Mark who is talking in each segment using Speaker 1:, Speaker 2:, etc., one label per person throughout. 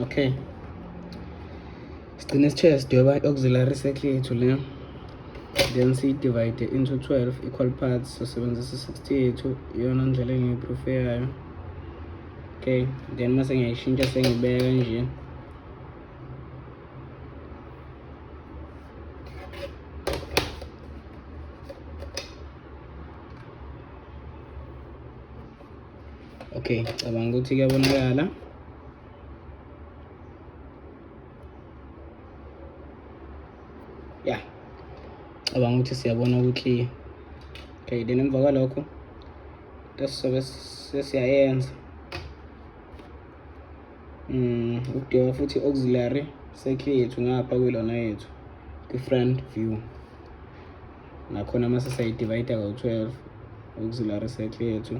Speaker 1: okay sigcine sitshela sidweba i-auxiliary circle yethu le then siyidivide into 12 equal parts sosebenzisa 60 yethu iyona ndlela engiyiproofe yayo okay then uma sengiyayishintsha sengibeka nje okay cabanga ukuthi kuyabonakala ya cabanga ukuthi siyabona ukuthi okay then emva kwalokho sobe sesiyayenza um ukudinga futhi auxiliary circuit yethu ngapha kwilona yethu kwi-front view nakhona mase sayidivayida kawu-12 auxiliary circle yethu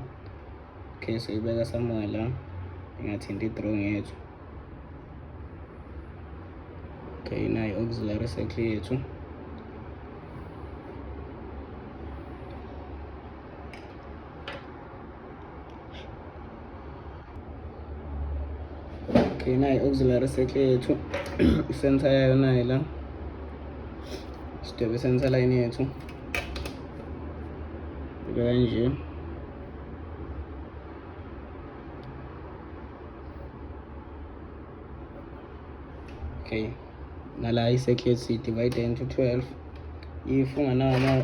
Speaker 1: okay soyibeka somewhere la ingathinti i-drawing yethu okay nayo auxiliary circle yethu okay nayi auxiliary circuit yethu isensor yayo nayi la sidwebe sensor line yethu beka kanje okay nala i-circuit siyidivide into 12 if unganawo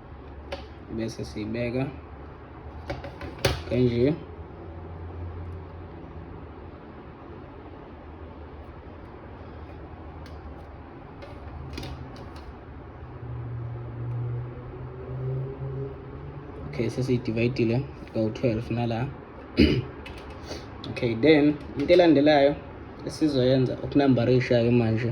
Speaker 1: bese siyibeka kanje okay sesiyidivayidile kawu-12 nala okay then into elandelayo esizoyenza ukunambarisha-ke manje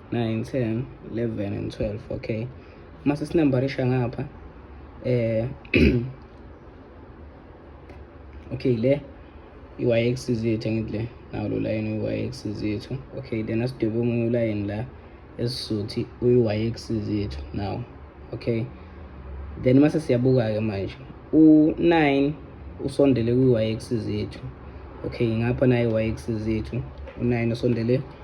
Speaker 1: 9 10 11 and 12 okay uma sesinambarisha ngapha eh okay le i-yx zethu angithi le nawo lo layini uyi-yx zethu okay then asidwebe omunye ulayini la esizothi uyi-yx zethu nawo okay then mase siyabuka-ke manje u-9 usondele kwi-yx zethu okay ngapha nayo i-yx zethu u-9 usondele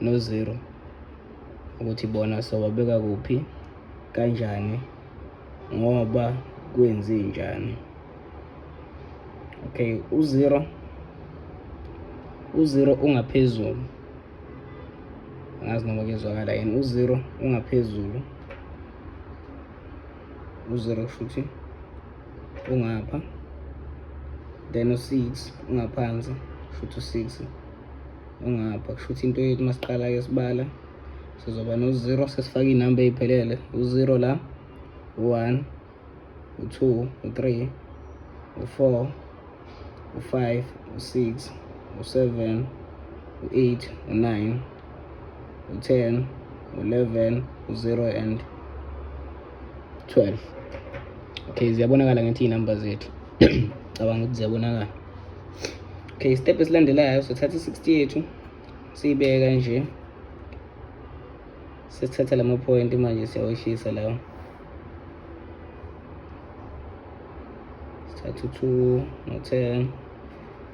Speaker 1: nozero ukuthi bona sobabeka kuphi kanjani ngoba kwenzi njani okay uzero uzero ungaphezulu angazi noma kezwakala yini uzero ungaphezulu uzero kusho ukuthi ungapha then u-six ungaphansi kusho ukuthi u-six ongapha kusho ukuthi into yethu uma siqala-ke sibala sizoba no-zero sesifake iy'namba ey'phelele u-zero la u-one u-two u-three u-four u-five u-six u-seven u-eight u-nine u-ten u-eleven u-zero and 12 okay ziyabonakala ngithi iy'namba zethu cabanga ukuthi ziyabonakala okay step esilandelayo sothatha i-60 yethu siyibeka nje sesithatha la mapoyinti manje siyawehlisa lawo sithatha u-two no-ten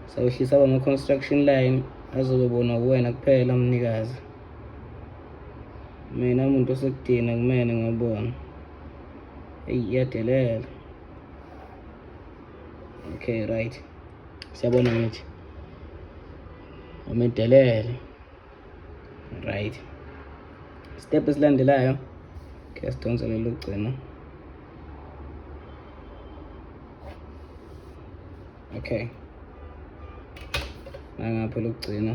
Speaker 1: sawehlisa aba ma-construction line azobe bona kuwena kuphela mnikazi mina muntu osekudina kumene ngiyabona eyi iyadelela okay right siyabona ngithi umedelele right step esilandelayo okay sidonse lelo gcina okay nangapha lokugcina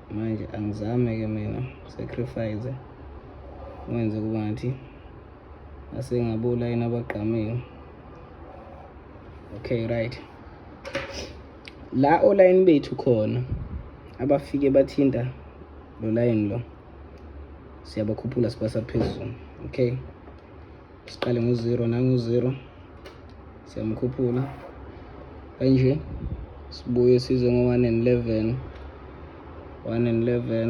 Speaker 1: manje angizame ke mina sacrifice wenze kuba ngathi asengabula yena abagqamile okay right la olayini bethu khona abafike bathinta lo layini lo siyabakhuphula sibasa phezulu okay siqale ngo-zero nangu-zero siyamkhuphula kanje sibuye size ngo-one and eleven one and eleven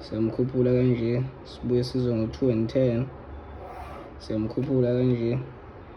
Speaker 1: siyamkhuphula kanje sibuye size ngo-two and ten siyamkhuphula kanje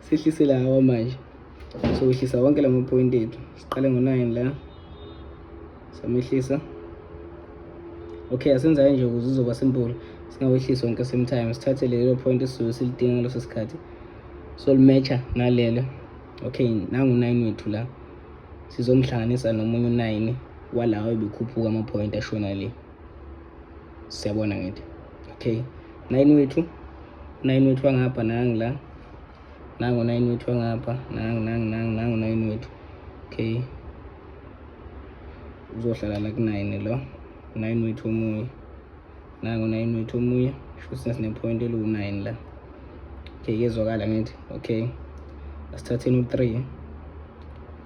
Speaker 1: sehlisele hawa manje sowehlisa wonke la mapoyinti ethu siqale ngo-nine la samehlisa okay asenzayo nje ukuze uzoba simple singawehlisi wonke same time sithathe lelo point esisuke silidinga ngaleso sikhathi so limatcha nalelo okay nangu-nine wethu la sizomhlanganisa nomunye u-nine walawo ebekhuphuka amapoyinti ashona le siyabona ngithi okay nayini wethu unayini wethu wangapha nangi la nangu unayini wethu wangapha nangu nangu nangu nangu unayini wethu okay uzohlala la kunayini lo unayini wethu omunye nangu unayini wethu omunye shuthi sesinepoint eliwu-nine la okay kezwakala ngithi okay asithatheni u-three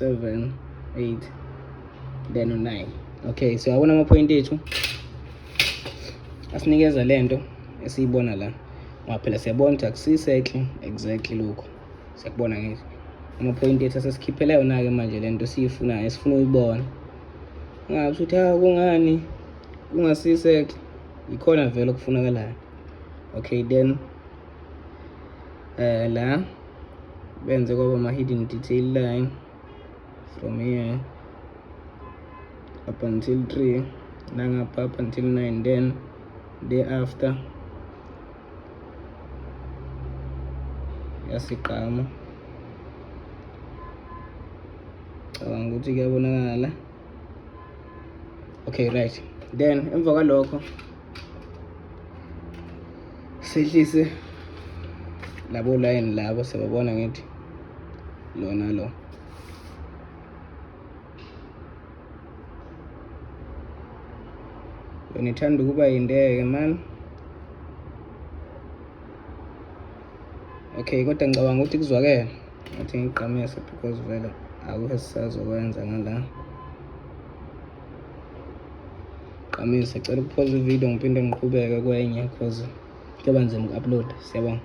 Speaker 1: 7 8 then 9 okay so yabona amaphoyinti ethu asinikeza le nto esiyibona la ngoba phela siyabona ukuthi akusisekhle exactly lokho siyakubona ngisho amaphoyinti ethu asesikhiphela yona-ke manje le nto esiyifunayo esifuna uyibona ungasho ukuthi ha kungani kungasisekhle yikhona vele okufunakalayo okay then uh, la benze kwaba ama-hidden detail line from here up until 3 nangapha up until 9 then day after yasigqama cabanga ukuthi kuyabonakala okay right then emva kwalokho sehlise labo line labo sebabona ngithi lona lo yona ithanda ukuba yindeke mani okay kodwa ngicabanga ukuthi kuzwakele ngathi ngigqamise because vele akukho esisazokwenza ngala gqamise cela ukuphoza ividiyo ngiphinde ngiqhubeke kwenye because kuyoba nzima uku-upload siyabonga